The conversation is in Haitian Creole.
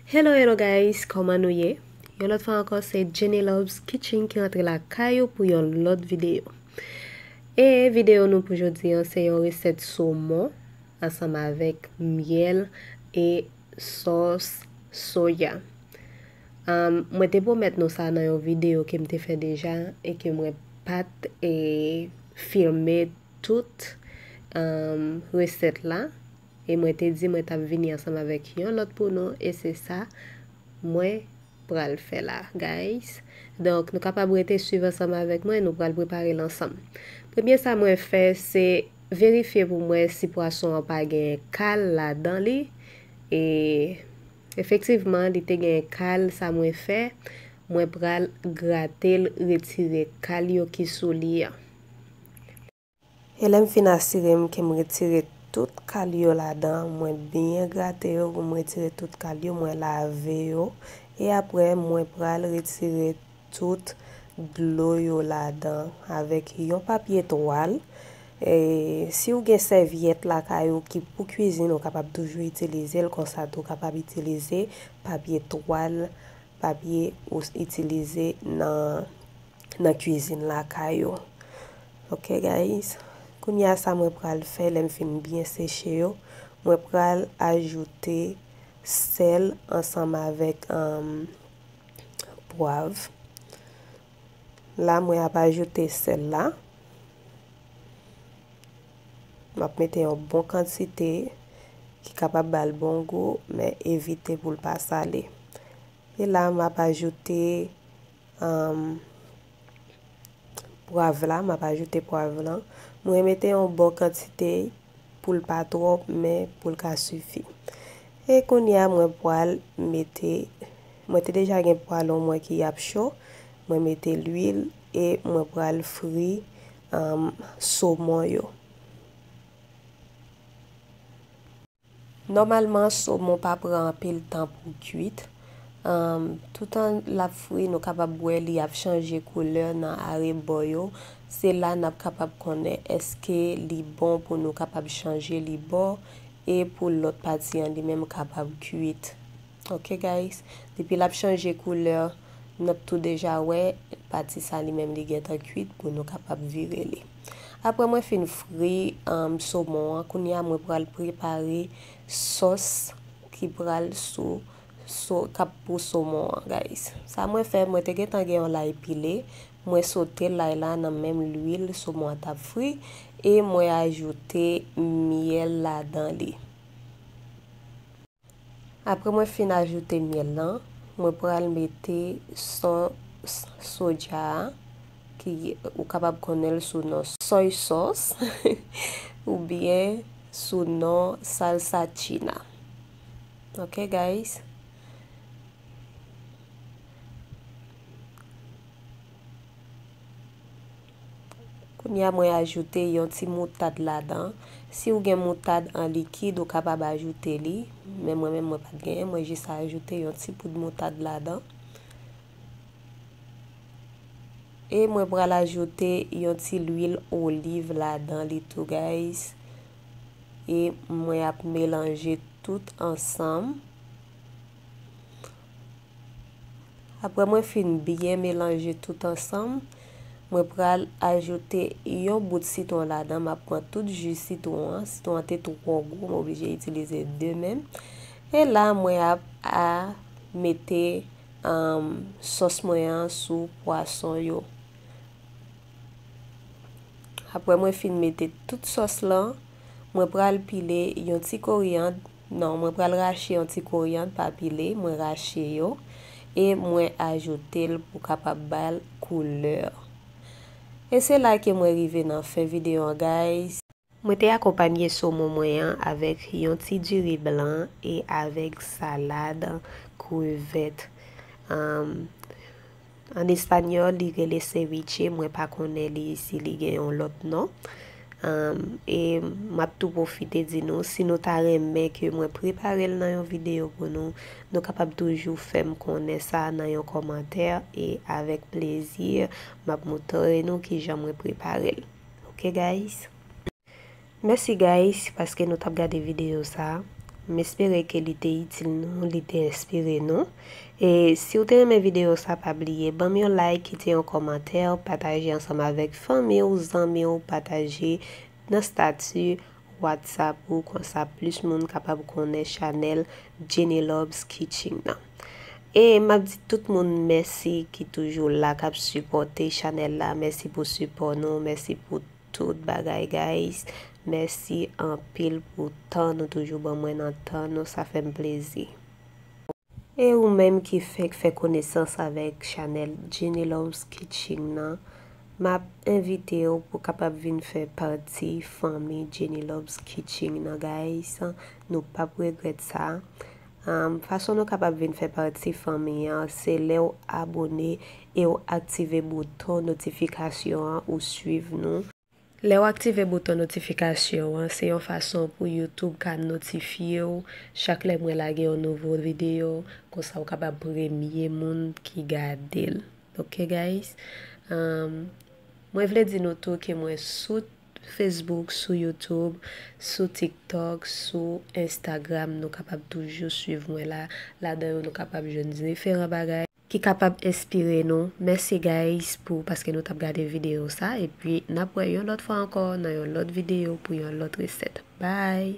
Hello hello guys kòman nou ye yon lòt fwa ankò se Jenny Loves Kitchen ki antre la kayou pou yon lòt videyo e videyo nou pou jodi an se yon resèt somon ansanm avèk myèl e sòs soya Mwen te pwomèt nou sa nan yon video kem te fè deja e ke mwen pat filme tout resèt la e mwen te di mwen tap vini ansanm avèk yon lòt pou nou e se sa mwen pral fè la guys donk nou kapab rete swiv ansanm avèk mwen nou pral prepare l ansanm premye sa mwen fè se verifye pou mwen si pwason an pa gen kal ladan li e. Efektivman li te gen kal sa mwen fè mwen pral gratel retire kal yo ki sou li an. E lèm fin asirem kem retire tout kal yo ladan mwen byen grate yo poum retire tout kal yo mwen lave yo e aprè mwen pral retire tout dlo yo ladan avèk yon papye twal, si ou gen sèvyèt lakay ou ki pou kwizin ou kapab toujou itilize l konsa tou kapab itilize papye twal papye ou itilize nan nan kwizin lakay ou ok guys kounya sa mwen pral fè lèm fin byen seche yo mwen pral ajoute sèl ansanm avèk. pwav la mwen ap ajoute sèl la map mete yon bon kantite ki kapab bal bon gou men evite pou l pa sale e la map ajoute um, Pwav la, map ajoute pwav lan. Mwen mete yon bon kantite pou l pa twòp men pou l ka sifi. E kounye a mwen pwal mete, mwen te deja gen pwalon mwen ki ap cho, mwen mete lwil e mwen pwal fri somon yo. Nòmalman somon pa pran anpil tan pou kuit, toutan lap fri nou kapab wè li ap chanje koulè nan arebò yo, se la nap kapab konnen eske li bon pou nou kapab chanje li bò e pou lòt pati an li menm kapab kuit ok guys depi lap chanje koulè nap tou deja wè pati sa li menm li gentan kuit pou nou kapab vire li. Aprè mwen fin fri somon an, kounye a mwen pral prepare sòs ki pral sou kap pou somon an guys. Sa mwen fè, mwen te gentan gen yon lay pile, mwen sote lay la nan menm lwil somon an tap fri e mwen ajoute myèl ladan li. Apre mwen fin ajoute myèl lan, mwen pral mete son soja a ki ou kapab konnen l sou non soy sòs oubyen sou non salsa china. Ok guys. Kounye a mwen ajoute yon ti moutad ladan. Si ou gen moutad an likid ou kapab ajoute li, men mwen menm mwen pat genyen, mwen jis ajoute yon ti poud moutad ladan. E mwen pral ajoute yon ti lwil oliv ladan li tou guys. E mwen ap melanje tout ansanm. Aprè mwen fin byen melanje tout ansanm, mwen pral ajoute yon bout sitwon ladan, m ap pran tout ji sitwon an, sitwon an te twò gwo m oblije itilize 2 menm, e la mwen ap a mete sòs mwen an sou pwason yo. Aprè mwen fin mete tout sòs lan, mwen pral pile yon ti koriyand. Non mwen pral rache yon ti koriand pa pile mwen rache yo e mwen ajoute l pou kapab bal couleur e se la ke mwen rive nan fen video an guys. Mwen te akonpanye somon mwen an avèk yon ti diri blan e avèk salad krevèt. An español li rele ceviche mwen pa konnen li si li gen yon lot non. Am e map tou profite di nou si nou ta renmen ke mwen preparel nan yon video pou nou, nou kapab toujou fem konnen sa nan yon komantè e avek plezi map moutre nou kijan mwen preparel. Ok guys. Mèsi guys paske nou tap gade videyo sa M espere ke li te itil nou, li te enspire nou E siw te renmen videyo sa pa bliye banm yon like, kite yon kòmantè, pataje ansanm avèk fanmiw, zanmiw, pataje nan stati WhatsApp ou konsa plis moun kapab konnen chanèl Jenny Loves Kitchen nan E map di tout moun mèsi ki toujou la kap sipòte chanèl la, mèsi pou sipò nou, mèsi pou. Tout bagay guys mèsi anpil pou tan nou toujou ban mwen nan tan nou sa fèm plezi. E ou menm ki fenk fè konesans avèk chanèl Jeanny Loves Kitching nan map envitew pou kapab vin fè pati fanmi Jeanny Loves Kitching nan guys nou pap regrèt sa Fason nou kapab vin fè pati fanmi an se lè w abone e w aktive bouton notifikasyon an ou swiv nou. Lè w aktive bouton notifikasyon an se yon fason pou YouTube ka notifye w chak lè mwen lage yon nouvo videyo konsa w kapab premye moun ki gade l ok guys Mwen vle di nou tou ke mwen sou Facebook, sou YouTube, sou TikTok, sou Instagram nou kapab toujou swiv mwen la, ladan yo nou kapab jwenn diferan bagay ki kapab enspire nou, mèsi guys pou paske nou tap gade video sa epi nap wè yon lòt fwa ankò nan yon lòt video pou yon lòt resèt bye.